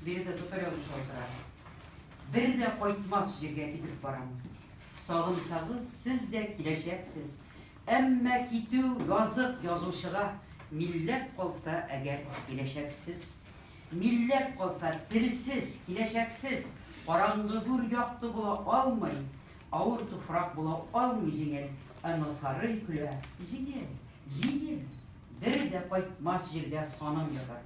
Биредә татар язучылары тора. Бер дә кайтмас җиргә китеп барам. Сагынсагыз, сез дә киләчәксез. Әмма китү язык язучыга. Милләт калса әгәр, киләчәксез. Милләт калса, телсез, киләчәксез. Караңгы гүр якты була алмый. Авыр туфрак була алмый җиңел. Әмма сарый көлә, җиңел, җиңел. Бер дә кайтмас җирдә саным ятар.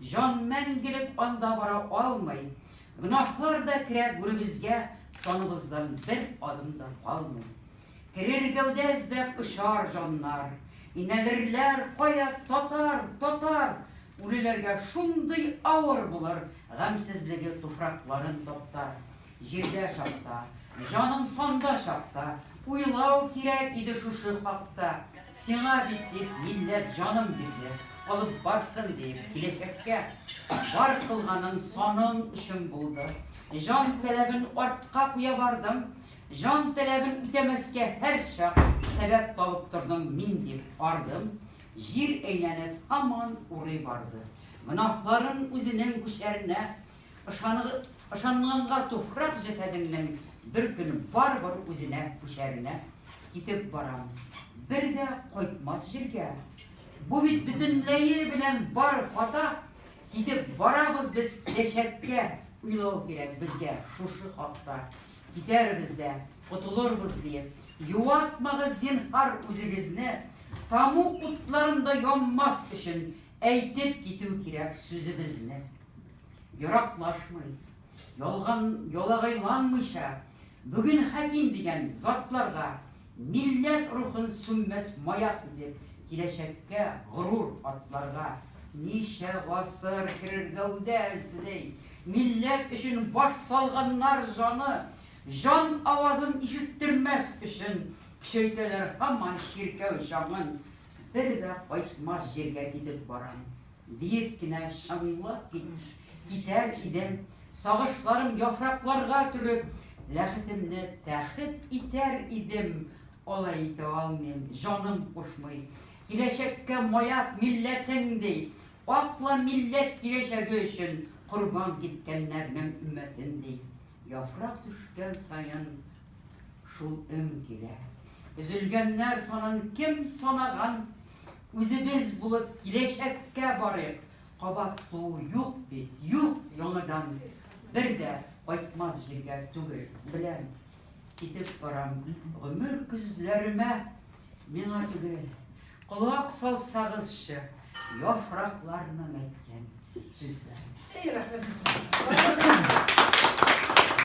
Җан мәңгелек анда бара алмый. Гөнаһлар да керә гүребезгә, Саныбыздан бер адым да калмый. Керер гәүдә эзләп очар җаннар, Инәлерләр, кая, татар, татар! Үлеләргә шундый авыр булыр, Гамьсезлеге туфракларын таптар. Җирдә чакта, җаның санда чакта, Уйлау кирәк иде шушы хакта. Сиңа бит дип милләт җанын бирде, Алып барсын диеп киләчәккә. Бар кылганың саның өчен булды, Җан таләбен артка куя бардың. Җан таләбен үтәмәскә һәрчак Сәбәп табып тордың мин дип ардым. Җир әйләнеп һаман урый барды. Гөнаһларың үзенең күчәренә, Ышанганга туфрак җәсәденнән бер көн барыбер үзенә күчәренә китеп барам. Бер дә кайтмас җиргә. Бу бит бөтенләе белән бар хата. Китеп барабыз без киләчәккә. Уйлау кирәк безгә шушы хакта. Китәрбез дә, котылырбыз диеп. Юатмагыз, зинһар, үзегезне. Таму утларында янмас өчен Әйтеп китү кирәк сүзебезне. Ераклашмый, ялган, ялагайланмыйча, бүген хәким дигән затларга милләт рухын сүнмәс маяк итеп, киләчәккә горур атларга ничә гасыр керергәүдә эзли, милләт өчен баш салганнар җаны, җан авазын ишеттермәс өчен көчәйтәләр һаман чиркәү җаңын. Бер дә кайтмас җиргә китеп барам, диеп кенә чыңлап китәр идем, сагышларым яфракларга төреп, ләхетемне тәхет итәр идем, алай итә алмыйм, җаным кушмый. Киләчәккә маяк милләтең, ди, акла милләт киләчәге өчен корбан киткәннәрнең өммәтен, ди. Яфрак төшкән саен Шул өң килә. Өзелгәннәр санын кем санаган? Үзебез булып киләчәккә барыйк. Кабат туу юк бит, юк яңадан. Бер дә кайтмас җиргә түгел, беләм. Китеп барам гомер көзләремә. Миңа түгел. Колак салсагызчы яфракларның әйткән сүзләренә. Әй, рәхмәт!